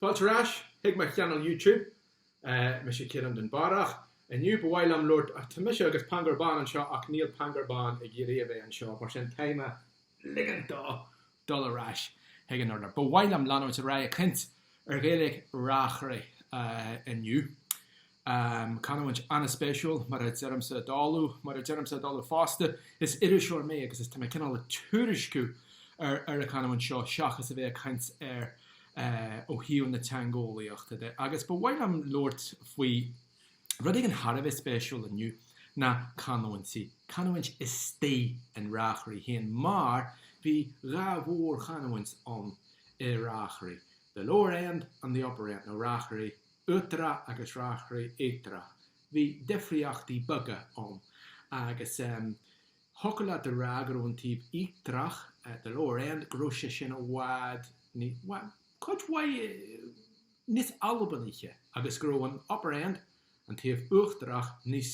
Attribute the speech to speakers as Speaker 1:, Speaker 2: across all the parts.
Speaker 1: Fáilte ar ais chuig mo channel YouTube. Mise Ciarán Dúnbarrach. Inniu ba mhaith liom labhairt ach tá mise agus Pangur Bán anseo ach níl Pangur Bán ag iarraidh a bheith anseo mar sin tá mé ag ligint dó dul ar ais chuig an urlár. Ba mhaith liom leanúint ar aghaidh ag caint ar Ghaeilge Reachraidh inniu. Em canúint an-spéisiúil, mar a deirimse i dtólamh, mar a deirimse i dtólamh fosta, is iriseoir mé agus tá mé cineál ag tuairisciú ar ar an chanúint seo seachas a bheith ag caint air ó thaobh na teangeolaíochta de. Agus ba mhaith liom labhairt faoi rud éigin thar a bheith spéisiúil inniu, na canúintí, canúint istigh in Reachraidh féin mar bhí dhá mhórchanúint ann i Reachraidh, the lower end and the upper end, nó Reachraidh Uachtarach agus Reachraidh Íochtarach. Bhí difríochtaí beaga ann agus thiocfadh leat a rá go raibh an taobh íochtarach, the lower end, go raibh sé sin i bhfad ní, bhuel, cuid mhaith níos Albanaíche agus go raibh an upper end, an taobh uachtarach, níos.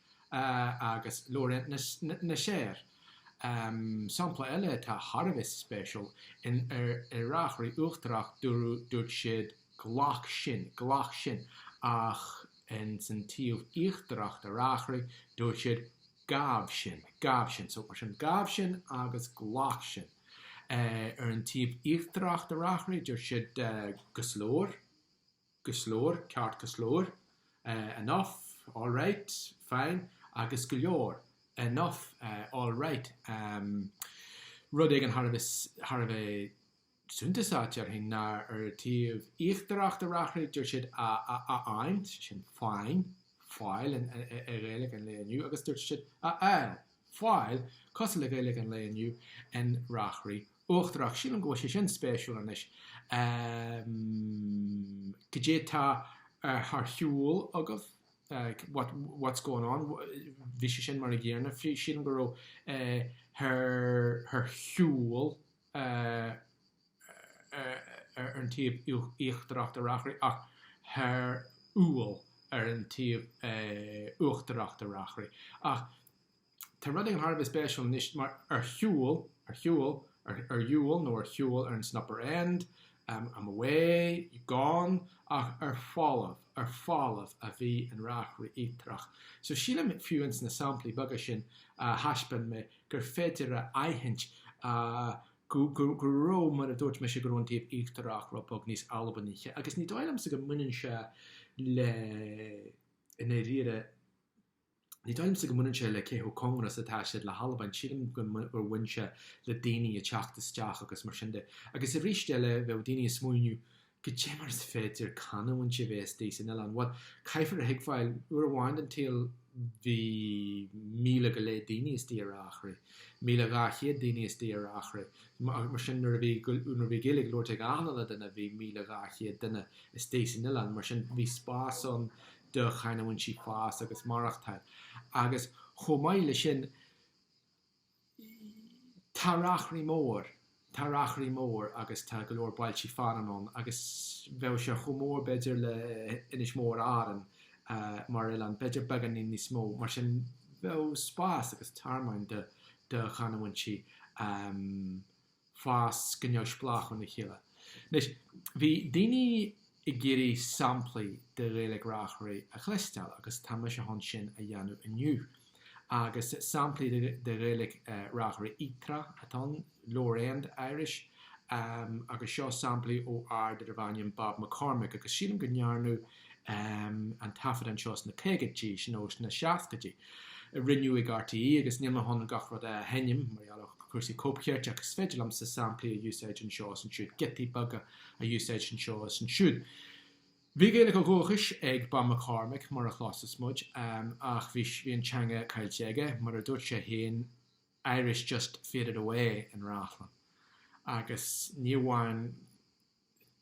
Speaker 1: agus lower end na Seir, sampla eile atá thar a bheith spéisiúil, in Reachraidh Uachtarach dúradh, dúirt siad glac sin, glac sin, ach ins an taobh íochtarach de Reachraidh, dúirt siad gabh sin, gabh sin. So, mar sin, gabh sin agus glac sin. Ar an taobh íochtarach de Reachraidh, dúirt siad go slór. go slór, ceart go slór, enough, all right, fine, agus go leor, enough, all right, rud éigin thar a bheith, thar a bheith suntasach, déarfainn, ná ar an taobh íochtarach de Reachraidh, dúirt siad a, a, a fháint, sin find, fáil i nGaeilge an lae inniu, agus dúirt siad a fháil, fáil, cosúil le Gaeilge an lae inniu in Reachraidh. Uachtarach. Sílim go bhfuil sé sin spéisiúil anois. Goidé tá thar shiúl agaibh? What, what's going on? Bhí sé sin mar an gcéarna frí, sílim go raibh thar shiúl ar an taobh íochtarach de Reachraidh ach thar ual ar an taobh uachtarach de Reachraidh. Ach. Tá rud éigin thar a bheith spéisiúil anois mar ar shiúl, ar shiúl, ar, ar dhiúl nó ar shiúl ar ins an upper end, em, I'm away, gone, ach ar folbh, ar folbh a bhí in Reachraidh Íochtarach. So sílim fiú ins na samplaí beaga sin a thaispeáin mé gur féidir a aithint, a, go, go, go raibh, mar a dúirt mise, go raibh an taobh íochtarach rud beag níos Albanaíche agus ní dóigh liomsa go mbaineann sé le, i ndairíre, Ní dóigh liomsa go mbaineann sé le cé chomh cóngarach is atá siad le hAlbain, sílim gur bhain sé le daoine ag teacht isteach agus mar sin de. Agus arís eile, bheadh daoine ag smaoineamh, Goidé mar is féidir canúintí a bheith istigh san oileán? Bhuel, caithfear a thuigbheáil, uair amháin den tsaol bhí míle go leith daoine istigh ar Reachraidh, míle dhá chéad duine istigh ar Reachraidh, mar sin nuair a bhí Gaeilge á labhairt ag achan uile dhuine bhí míle dhá chéad duine istigh san oileán, mar sin bhí spás ann do chanúintí fás agus maireachtáil, agus chomh maith leis sin, tá Reachraidh mór, tá Reachraidh mór agus tá go leor bailtí fearainn ann, agus bheadh sé chomh mór b'fhéidir le Inis Mór Árann mar oileán, b'fhéidir beagáinín níos mó, mar sin bheadh spás agus tearmann do chanúintí. fás go neamhspleách óna chéile. Anois, bhí daoine ag iarraidh samplaí de Ghaeilge Reachraí a chloisteáil agus tá mise chun sin a dhéanamh inniu. Agus samplaí de Ghaeilge Reachraí Íochtarach atá ann, Lower End Irish, agus seo samplaí ó fhear darbh ainm Bob McCormick agus sílim go ndearnadh an taifead anseo sna caogaidí nó sna seascaidí a rinneadh ag RTÉ agus níl mé chun gach rud a sheinm mar gheall ar chúrsaí cóipchirt ach is féidir liomsa samplaí a úsáid anseo is ansiúd, giotaí beaga a úsáid anseo is ansiúd. Bhí Gaeilge ó dhúchas ag Bob McCormick mar a chloisfeas muid ach bhí an teanga caillte aige, mar a dúirt sé féin 'Irish just faded away' in Rathlin agus ní amháin,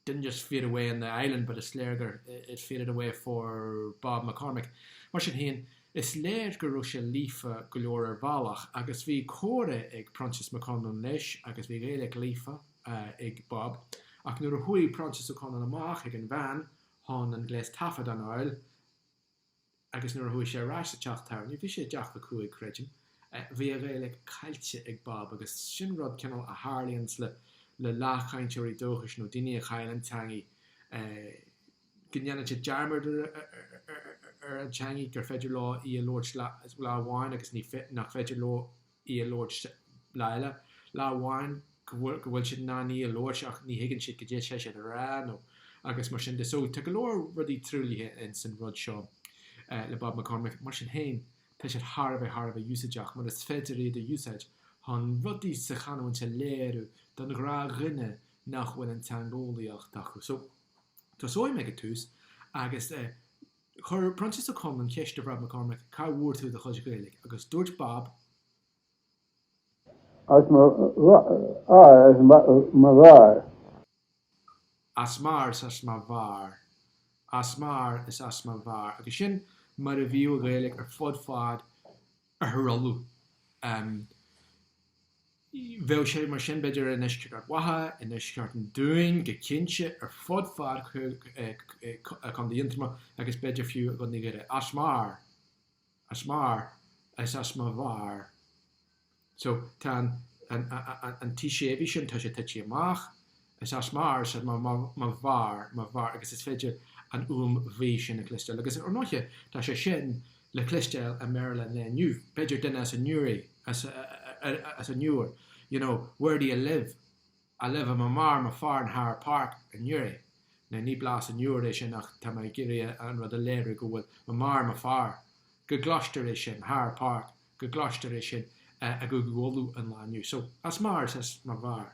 Speaker 1: didn't just fade away on the island but is léir gur it faded away for Bob McCormick. Mar sin féin, is léir go raibh sé líofa go leor ar bhealach agus bhí comhrá ag Proinsias Mac Conluain leis agus bhí Gaeilge líofa ag Bob. Ach nuair a chuaigh Proinsias Ó Conluain amach ag an veain chun an gléas taifeadta a fháil, agus nuair a chuaigh sé ar ais sa teach tábhairne, bhí sé i dteach Mhic Cuaig, creidim, bhí a Ghaeilge caillte ag Bob agus sin rud, cineál, a tharlaíonn le leathchainteoirí dúchais nó daoine a chaill an teangaidh, go ndéanann siad dearmad ar an teangaidh, gur féidir leo í a labhairt lá amháin agus nach féidir leo í a labhairt lá eile, lá amháin go bhfuil, go bhfuil siad in ann í a labhairt ach ní thuigeann siad goidé tá siad a rá nó agus mar sin de. So tá go leor rudaí truaillithe in san rud seo le Bob McCormick. Mar sin féin, tá siad thar a bheith thar a bheith úsáideach mar is féidir iad a úsáid chun rudaí sa chanúint a léiriú don ghnáthdhuine nach bhfuil an teangeolaíocht acu. So tosóidh mé ag an tús agus eh, Chuir Proinsias Ó Conluain ceist ar Bhab Mac Cormaic, cá bhfuair tú do chuid Gaeilge? agus dúirt Bab. As m'athair, as mo mháthair. As m'athair is as mo mháthair. As m'athair is as mo mháthair. Agus sin mar a bhíodh an Ghaeilge ar fud fad Oirthear Uladh. Bheadh sé mar sin, b'fhéidir, i ndeisceart Ard Mhacha, i ndeisceart an Dúin, go cinnte ar fud fad Chontae Aontroma agus b'fhéidir fiú i gContae Dhoire. As m'athair, as m'athair, is as mo mháthair. So, tá an t séimhithe sin, tá sé tití amach. Is as m'athair, ar siad, m'athair, m'athair, mo mháthair, mo mháthair, agus is féidir an fhuaim bhuí sin a chloisteáil, agus ar ndóiche tá sé sin le cloisteáil i mBéarla an lae inniu, b'fhéidir duine as an Newry, as, ar, as an Iúr, you know, where do you live? I live with my mother, my father in Heather Park in Newry. Now ní blas an Iúir é sin ach tá mé ag iarraidh an rud a léiriú go bhfuil, my mother, my father, go gcloistear é sin, Heather Park, go gcloistear é sin i gCúige Uladh an lae inniu. So, as m'athair is as mo mháthair.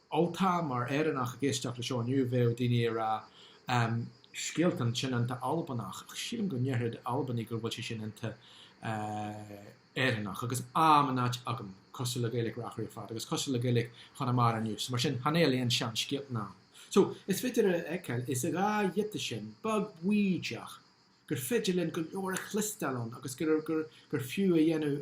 Speaker 1: Ultach mar Éireannach ag éisteacht le seo inniu, bheadh daoine ag rá scéaltan, sin iontach Albanach, ach sílim go ndéarfadh Albanaigh gur bhfuil sé sin iontach Éireannach, agus am in áit agam, cosúil le Gaeilic Reachraidh ar fad, agus cosúil le Gaeilic Chonamara inniu, so mar sin, chan fheil aon sean scéaltan am. So, is féidir a fheiceáil, insa dhá ghiota sin, beag baoideach, gur féidir linn go leor a chloisteáil ann, agus gur fiú a dhéanamh,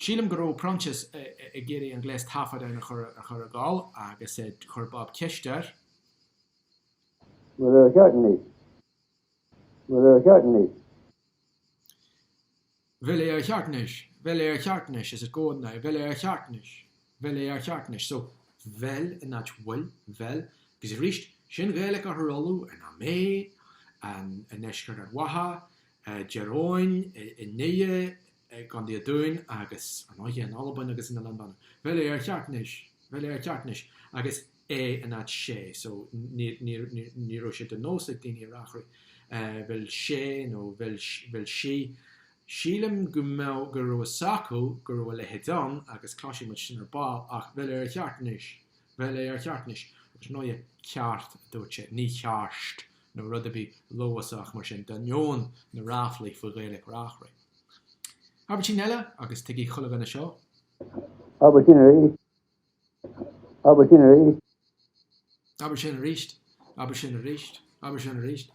Speaker 1: Sílim go raibh Proinsias ag iarraidh an gléas taifead ann a chur ar gcul agus chuir Bob ceist air. Mura gceart duit. Mura gceart duit. Bhfuil é ar cheart anois? Bhfuil é ar cheart anois? Is it going now? Bhfuil é ar cheart anois? Bhfuil é ar cheart anois? So, bhfuil in áit bhfuil, bhfuil. Agus arís, sin Ghaeilge a tharlódh in am mé, i ndeisceart Ard Mhacha, i dTír Eoghain, i nDoire, i gContae an Dúin agus ar ndóighe in Albain agus in Oileán Mhanann. Bhfeil é ar cheart anois, bhfeil é ar cheart anois agus é in áit sé so ní raibh sé de nós ag daoiní ar Reachraidh, bhfuil sé nó bhfuil sí, sílim go mbeadh, go raibh fhios acu go raibh a leithéid ann agus cloisfidh muid sin ar ball ach bhfeil é ar cheart anois, bhfeil é ar cheart anois agus ar ndóighe ceart a dúirt sé, ní cearst nó rud ar bith Leodhasach mar sin d'ainneoin na ráflaí faoi Ghaeilic Reachraidh. Abairtín eile, agus tuigfidh chuile dhuine seo. Abairtín arís. Abairtín arís. Abair sin arís. Abair sin arís. Abair sin arís.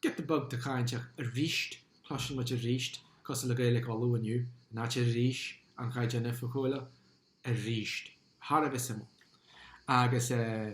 Speaker 1: Get the bug de cháinteach arís! Cloiseann muid arís cosúil le Gaeilic Uladh inniu, an áit arís, an Chaighdeán Oifigiúil arís. Thar a bheith suimiúil. Agus eh.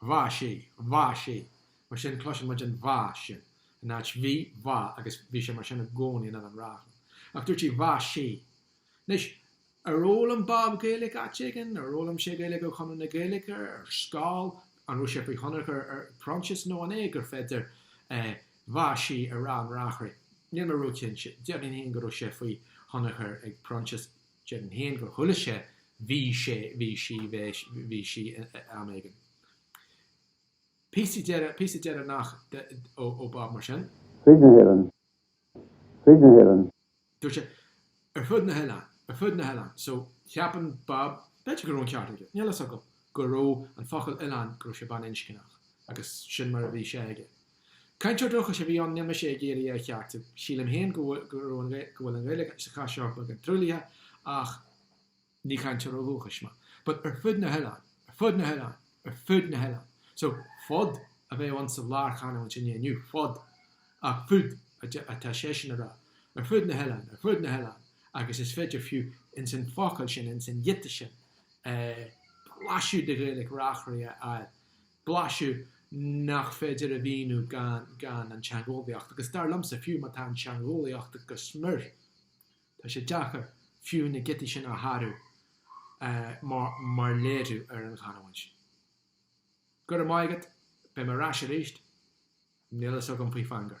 Speaker 1: Bha, sí, bha, sí. Mar sin, cloiseann muid an bha sin in áit bhí, agus bhí sé mar sin i gcónaí in Oileán Reachlainn. Ach dúirt sí bha, sí. Anois, ar fhoghlaim Bob Gaeilge áit éigin? Ar fhoghlaim sé Gaeilge ó Chonradh na Gaeilge? Ar scoil? An raibh sé faoi thionchar ag Proinsias? Nó an é gur féidir bha, sí a rá in Reachraidh? Níl mé ró-chinnte. Déarfainn féin go raibh sé faoi thionchar ag Proinsias. Déarfainn féin gur chuala sé bhí sé bhí sí bhí sí am éigin. Píosa deireanach píosa deireanach ó Bob mar sin. Fríd na hÉireann fríd na hÉireann. Dúirt sé ar fud na hoileáin ar fud na hoileáin so cheapann Bob, b'fhéidir go raibh an ceart aige, níl fhios agam, go raibh an focal oileán go raibh sé baininscneach agus sin mar a bhí sé aige. Cainteoir dúchais a bhí ann níl mé ag iarraidh é a cheartú. Sílim féin go go bhfuil an Ghaeilge sa chás seo beagán truaillithe ach ní cainteoir ó dhúchas mé. But ar fud na hoileáin, ar fud na hoileáin, ar fud na hoileáin. So fud a bheadh ann sa lárchanúint sa lá inniu, fud, ach fud atá seisean a rá. Ar fud na hoileáin, ar fud na hoileáin agus is féidir fiú ins an focal sin, ins an ghiota sin, blaiseadh de Ghaeilge Reachraidh a fháil. blaiseadh nach féidir a mhíniú gan an teangeolaíocht, agus dar liomsa, fiú má tá an teangeolaíocht agat go smior, tá sé deacair fiú na giotaí sin a shárú mar léiriú ar an chanúint sin. Go raibh maith agat, beidh mé ar ais arís, níl a fhios agam faoi Phangur.